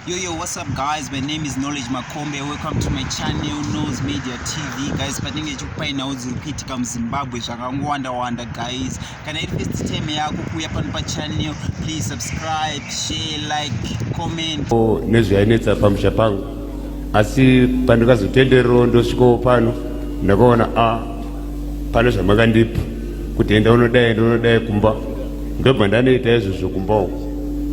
Yo, yo, what's up guys? My name is Knowledge Makombe. Welcome to my channel, Nose Media TV. Guys, patinenge chikupainawo dziri kuitika muZimbabwe zvakangowanda-wanda guys. Kana iri first time yako kuuya pano pachannel, please subscribe, share, like, comment. Oh, nezvainetsa pamusha pangu. Asi pandikazotenderero ndosvikawo pano, ndakaona a ah, pane zvamakandipa kuti enda unodai ndonodai kumba. Ndobva ndanoita izvozvo kumba uko.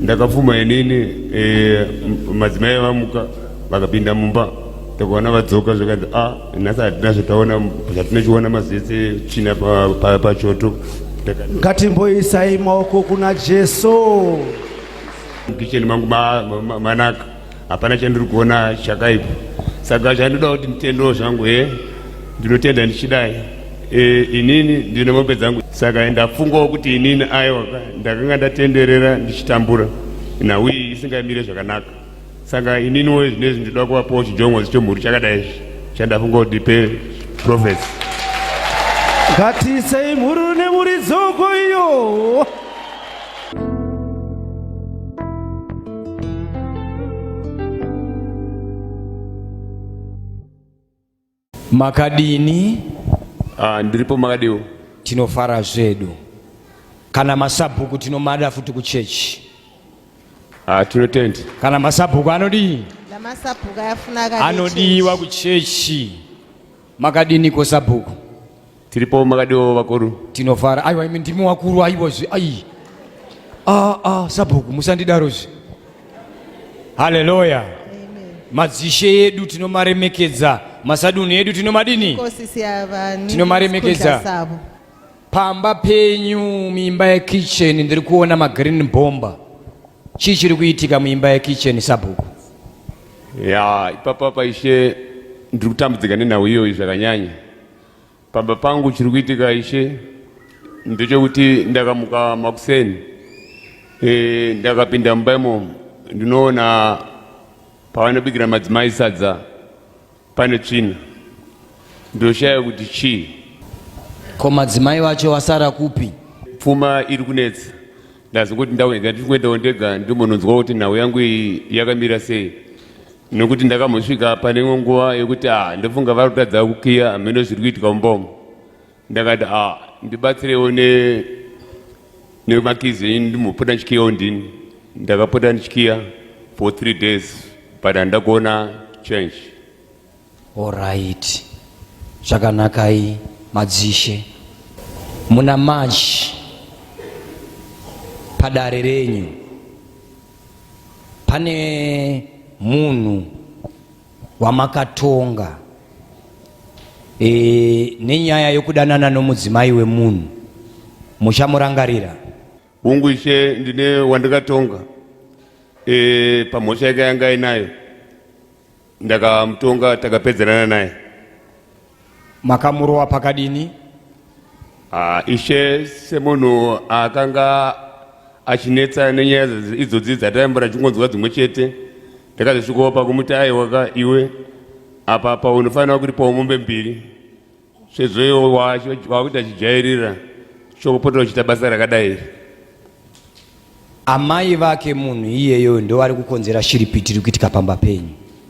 Ndakafuma inini e, madzimai avamuka vakapinda mumba takaona vadzoka zvikanzi a ah, nhasi hatina zvataona zvatinochiona mazese china pachoto ngatimboisai maoko kuna jesu kicheni mangu manaka hapana chandiri kuona chakaipa saka chandinoda kuti nditendewo zvangu he ndinotenda ndichidai e, inini ndine mombe dzangu saka ndafungawo kuti inini aiwaka ndakanga ndatenderera ndichitambura nhau iyi isingamire zvakanaka saka ininiwo zvinezvi ndinoda kuvapawo chijongozi chemhuri chakadai izvi chandafunga kuti ndipe profesi ngatiisei mhuru nemhuri dzoko iyo makadini uh, ndiripo makadiwo tinofara zvedu kana masabhuku tinomada futi kuchechi uh, ah, tinotenda kana masabhuku anodii anodiwa kuchechi makadini ko sabhuku Tiripo makadiwo vakuru. Tinofara. Aiwa imi ndimi wakuru aiwa zvi. Ai. Ah ah sabhuku musandidaro zvi. Hallelujah. Madzishe edu tinomaremekedza. Masadunhu edu tinomadini? Tinomaremekedza. Pamba penyu muimba yekitchen ndiri kuona magreen bomba. Chii chiri kuitika muimba yekitchen sabhuku? Ya, ipapa paishe ndiri kutambudzika nenhau iyoyi zvakanyanya. Pamba pangu chiri kuitika ishe ndechekuti ndakamuka makuseni e, ndakapinda mumba imomo ndinoona pavanobikira madzimai sadza pane tsvina ndoshaya kuti chii ko madzimai vacho vasara kupi pfuma iri kunetsa ndazongoti ndauya ndandiri kuendawo ndega ndimbononzwawo kuti nhau yangu iyi yakamira sei nokuti ndakambosvika pane imwe nguva yekuti a ah, ndofunga vari kutadza kukiya hameno zviri kuitika umbomo ndakati a ah, ndibatsirewo nemakizi enyu ndimbopota ndichikiyawo ndini ndakapota ndichikiya for three days but handina kuona change Horait zvakanakai madzishe muna March padare renyu pane munhu wamakatonga e, nenyaya yokudanana nomudzimai wemunhu muchamurangarira hungu ishe ndine wandikatonga e, pamhosva yake yanga inayo ndakamutonga takapedzerana naye makamurova pakadini Ah, ishe semunhu akanga achinetsa nenyaya idzi- idzodzi dzataimbura ndichingonzwa dzimwe chete ndakazosvikopa kumuti aiwaka iwe apa paunofanira kuripawo mombe mbiri sezvo iwo wacho wakuita chijairira chokupota uchita basa rakadai iri amai vake munhu iyeyo ndovari kukonzera shiripiti iri kuitika pamba penyu